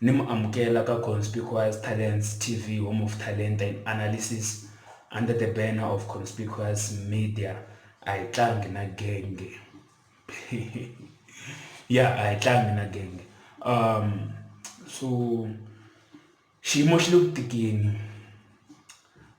Ni mu amukela ka Conspicuous Talents TV Home of Talenta and Analysis under the banner of Conspicuous Media a hi tlangi na genge ya a hi tlangi na genge um so xiyimo xi le ku tikeni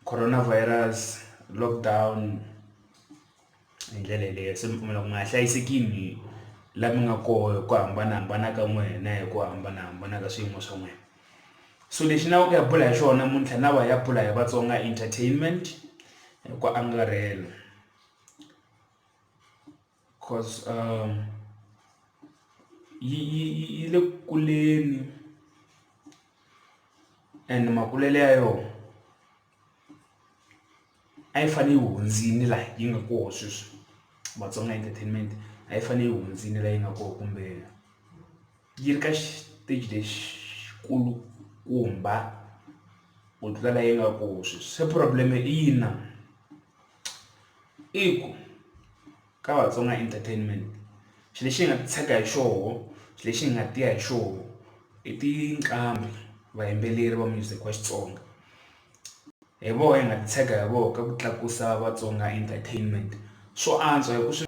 coronavirus lockdown. hi ndlela yeleyo se mi pfumela ku mi nga hlayisekini la mi nga koho hi ku hambanahambana ka n'wina hi ku hambanahambana ka swiyimo swa n'wina so lexi ni lava ku ya bula hi xona muntlha na va ya bula hi Vatsonga entertainment hi ku angarhela cause um yi yi yi le ku kuleni and makulele ya yona a yi fanele yi hundzile laha yi nga kona sweswi Matsonga Entertainment a yi fanele yi hundzile laha yi nga kona kumbe yi ri ka xiteji lexikulukumba ku tlula laha yi nga kona sweswi se problem i yini na i ku. ka Vatsonga Entertainment xilo lexi hi nga titshega hi xona xilo lexi hi nga tiya hi xona i tinqambi vayimbeleri va music wa Xitsonga hi vona hi nga titshega hi vona ka ku tlakusa Vatsonga Entertainment swo antswa hi ku swi.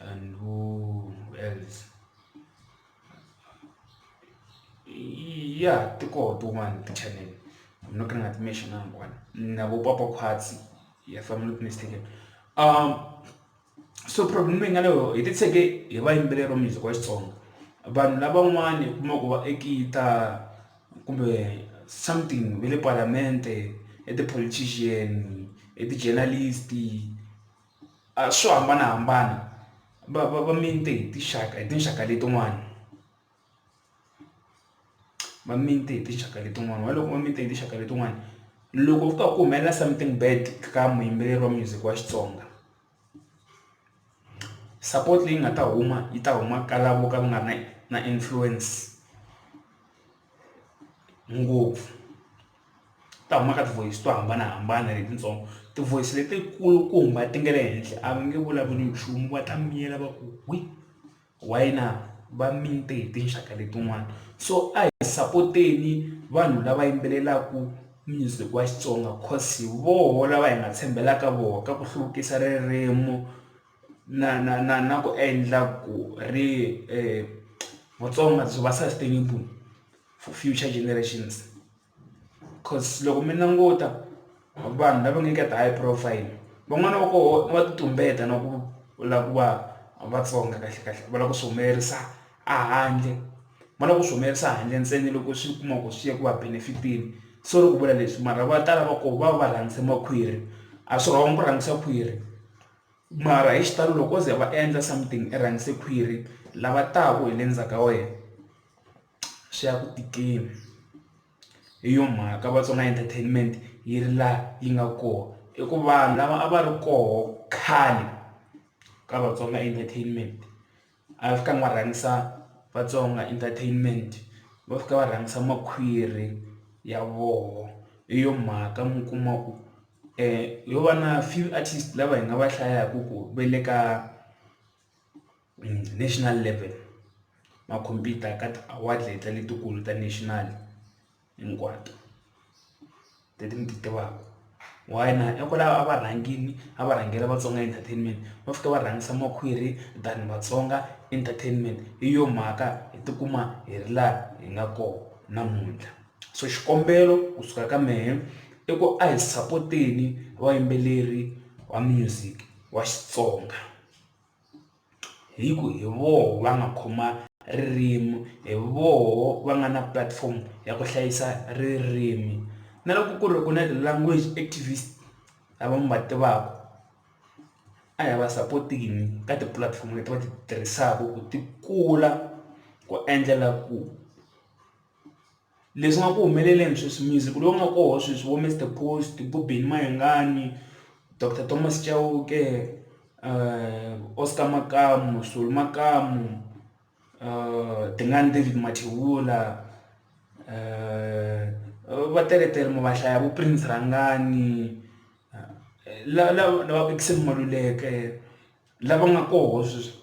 and who else ya ti koho tin'wani ti-channel I'm not gonna mention hinkwato na vo papa Khwatsi if I'm not mistaken so problem leyi nga na yoho hi titshege hi vayimbeleri va music wa Xitsonga vanhu lavan'wani u kuma ku va ekita kumbe something ve le palamende i ti-politician i ti-journalist. a swo hambanahambana va va va minte hi tinxaka hi tinxaka letin'wana va minte hi tinxaka letin'wana va loko va mite hi tinxaka letin'wana loko ku ka ku humelela something bad ka muyimbeleri wa music wa Xitsonga support leyi nga ta huma yi ta huma ka lavo ka va nga ri na na influence. ngopfu ta huma ka ti-voice to hambanahambana letitsongo ti-voice leti kulukumba ti nga le henhla a va nge vulavuli nchumu va ta miyela va ku wi why na va minte hi tinxaka letin'wana so a hi sapoteni vanhu lava yimbelelaka music wa Xitsonga coz hi voho lava hi nga tshembelaka voho ka ku hluvukisa ririmu na na na na ku endla ku ri Vatsonga byi va sustainable for future generations coz loko mi languta vanhu lava nga ka ti-high profile van'wana va koho va ti tumbeta na ku la ku va Vatsonga kahle kahle va lava ku swi humelerisa a handle va lava ku swi humelerisa handle ntsena loko swi kuma ku swi ya ku va benefit-eni sorry ku vula leswi mara va tala va koho va va va rhangisa makhwiri a swi wrong ku rhangisa khwiri. Mara hi xitalo loko o ze va endla something i rhangise khwiri lava taka hi le ndzhaku ka wena swi ya ku tikeni hi yo mhaka Vatsonga entertainment yi ri laha yi nga kona i ku vanhu lava a va ri koho khale ka Vatsonga entertainment. a va fikangi va rhangisa Vatsonga entertainment va fika va rhangisa makhwiri ya voho hi yo mhaka mi kuma ku yo va na few artist lava hi nga va hlayaku ku ve le ka national level ma compete-a ka ti-award letiya letikulu ta national. hinkwato leti ni ti tivaka why na hikwalaho a va rhangile a va rhangela Vatsonga Entertainment va fika va rhangisa makhwiri than Vatsonga Entertainment hi yo mhaka hi tikuma hi ri laha hi nga kona namuntlha so xikombelo kusuka ka mehe i ku a hi sapoteni vayimbeleri va music wa Xitsonga. hi ku hi voho va nga khoma ririmi hi voho va nga na platform ya ku hlayisa ririmi na loko ku ri ku na ti-language activist lava mi va tivaka a hi va sapoteni ka tipulatifomo leti va ti tirhisaka ku ti kula ku endlela ku. Leswi nga ku humeleleni sweswi music lowu nga kona sweswi vo Mister Coast, vo Benny Mayengani, Doctor Thomas Chauke, Oscar Makamu, Solly Makamu, Tingani David Mathebula va teletele ma va hlaya vo Prince Rhangani lava lava Maluleke lava nga koho sweswi.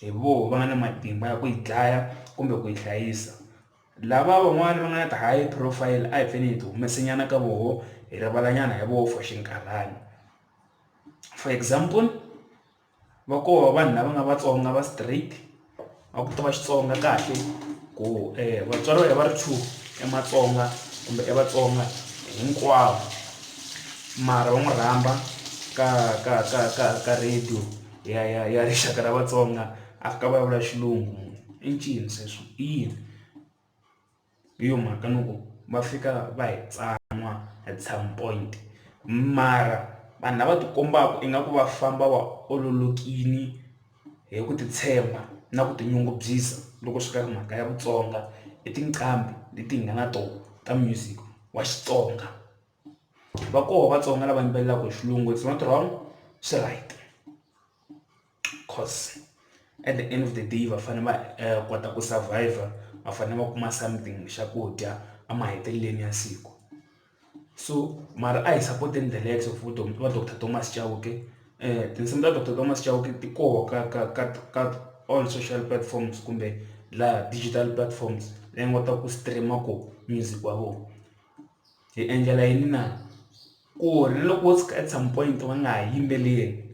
hi voho va nga na matimba ya ku yi dlaya kumbe ku yi hlayisa lava van'wani va nga na ti high profile a hi pfeni hi ti humese nyana ka voho hi rivala nyana hi voho for xinkarhana for example va koho vanhu lava nga Vatsonga va straight va ku tiva Xitsonga kahle ku vatswari va hina va ri two i Matsonga kumbe i Vatsonga hinkwavo mara va n'wi rhamba ka ka ka ka ka radio. ya ya ya rixaka ra Vatsonga a ka vulavula xilungu munhu i ncini sweswo i yini hi yo mhaka ni ku va fika va hi tsan'wa at some point mara vanhu lava ti kombaka ingaku va famba va ololokile hi ku titshemba na ku tinyungubyisa loko swi ta ka mhaka ya Vutsonga i tinqambi leti hi nga na tona ta music wa Xitsonga. va koho Vatsonga lava yimbelelaka hi xilungu it's not wrong swi right course at the end of the day va fanele va kota ku survivor va fanele va kuma something xa ku dya a mahetelelweni ya siku so mara a hi sapoteni the likes of va doctor Thomas Chauke tinsimu ta doctor Thomas Chauke ti koho ka ka ka ka all social platforms kumbe laha digital platforms leyi nga kotaka ku stream-a koho music wa vona. hi endlela yini na? Ku ri na loko wo tshuka at some point va nga ha yimbeleli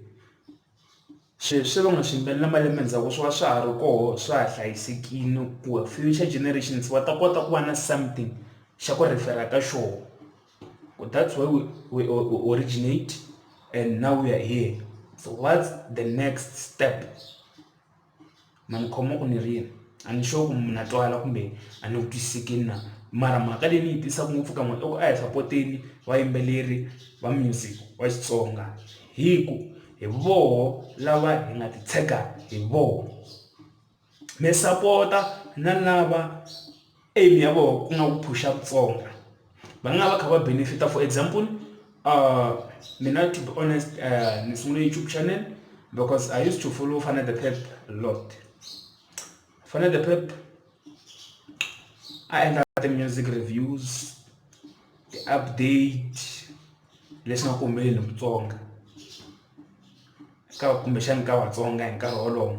sweswi va nga swi yimbelela na malembe ndzhaku swi va swa ha ri koho swa ha hlayisekile ku future generations va ta kota ku va na something xa ku refer-a ka xona ku that's why we we we originate and now we are here so what's the next step. ma ni khoma ku ni ri yini a ni sure ku na twala kumbe a ni ku twisise ke na mara mhaka leyi ni yi twisaka ngopfu ka n'wina i ku a hi sapoteni vayimbeleri va music wa Xitsonga hi ku hi voho lava hi nga titshega hi voho mi sapota na lava. Aim ya vona ku nga ku phusha ku tsonga va nga va kha va benefit-a for example mina to be honest ni sungule YouTube channel because I use to follow Fana The Pep a lot. Fana The Pep a endla ti-music reviews ti-update leswi nga ku humeleni hi Mutsonga ka kumbexana ka Vatsonga hi nkarhi wolowo.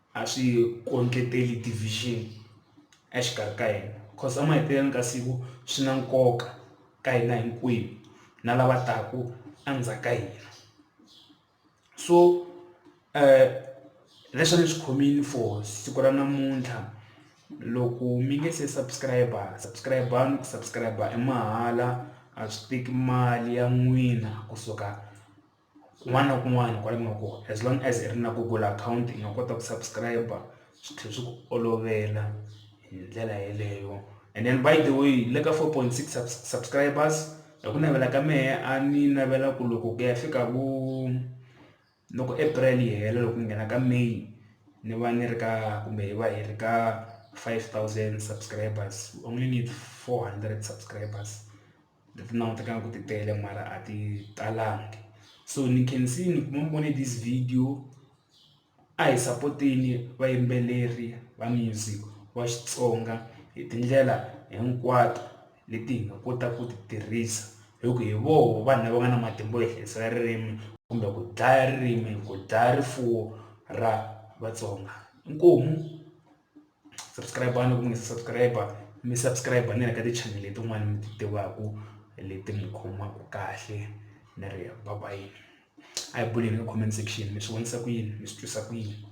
a swi kondleteli division exikarhi ka hina because emahetelelweni ka siku swi na nkoka ka hina hinkwenu na lava taka endzhaku ka hina so leswi a ni swi khomile for siku ra namuntlha loko mi nge se subscribe subscribe-ani ku subscribe i mahala a swi teki mali ya n'wina kusuka. kun'wana na kun'wana kwala ku nga kona as long as i ri na google akhawunti i nga kota ku subscribe-a swi tlhela swi ku olovela hi ndlela yeleyo and then by the way le ka four point six subscribers hi ku navela ka mehe a ni navela ku loko ku ya fika ku loko April yi hela loko ku nghena ka May ni va ni ri ka kumbe hi va hi ri ka five thousand subscribers only need four hundred subscribers leti ni langutelaka ku ti tele mara a ti talangi so ni khensa ni kuma ni vone this video a hi sapoteni vayimbeleri va music wa Xitsonga hi tindlela hinkwato leti hi nga kota ku ti tirhisa hi ku hi voho vanhu lava nga na matimba yo hlayisela ririmi kumbe ku dlaya ririmi ku dlaya rifuwo ra Vatsonga inkomu. subscribe-ani loko mi nga se subscribe mi subscribe na le ka ti-channel letin'wana mi ti tivaka leti mi khomaka kahle ni ri bye bye a hi buleni ka comment section mi swi vonisa ku yini mi swi twisa ku yini.